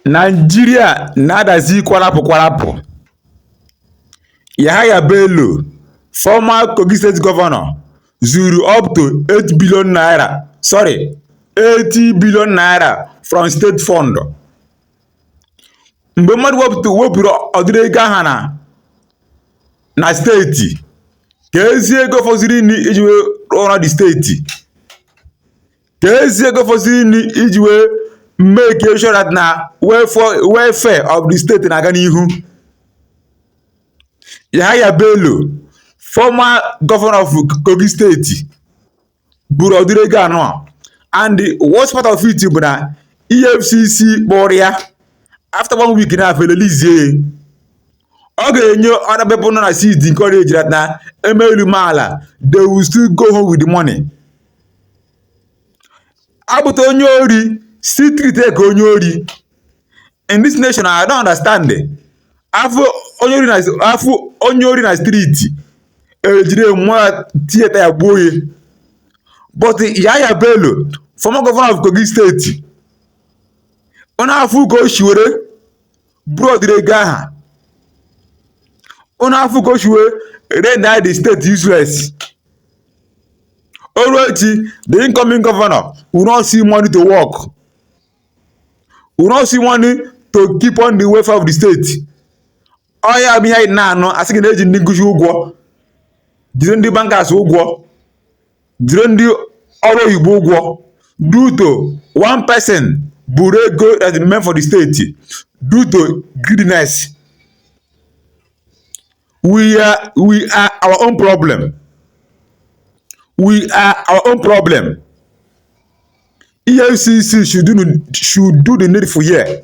Naijiria na-adazi kwarapụ kwarapụ, Yahaya Bello, former Kogi state governor zuru up to eight billion naira sorry eighty billion naira from state fund mgbe mmadụ wepụta wepụrụ ụdịrị ego aha na na steeti keezi ego fọziri nụ iji wee rụọ ọrụ the steeti keezi ego fọziri nụ iji wee make sure that na welfare of the state na-aga n'ihu Yahaya Bello former governor of Kogi steeti buru ụdịrị ego anụwa and the worst part of it bụ na EFCC kpọrọ ya after one week na fa e-release ya ọ ga-enye other people nọ na seat encourage that na e mee elu mee ala they will still go home with the money A fụta onye ori still treat ya ka onye ori in this nation I don't understand afụ onye ori na afụ onye ori na streeti ejide nwa tiye taya gbuo ya but Yahaya Bello former governor of Kogi steeti ụnụ afụ ka o si were buru ụdịrị ego aha ụnụ afụ ka o si wee render the state useless o ruo echi the incoming governor will not see money to work will not see money to keep on the welfare of the state ọ ya bụ ihe ị na-anụ a sị gị na e ji ndị nkụzi ụgwọ jiri ndị bankers ụgwọ jiri ndị ọrụ oyibo ụgwọ due to one person buru ego that is meant for the state due to greediness we are we are our own problem we are our own problem efcc should do, should do the needful here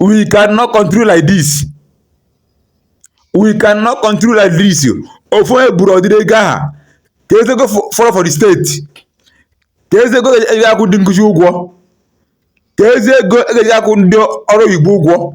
we cannot continue like this we cannot continue like this ofu onye eburu ụdịrị ego aha keezi ego fọrọ for the state keezi ego eji akwụ ndị nkụzi ụgwọ keezi ego eji akwụ ndị ọrụ oyibo ụgwọ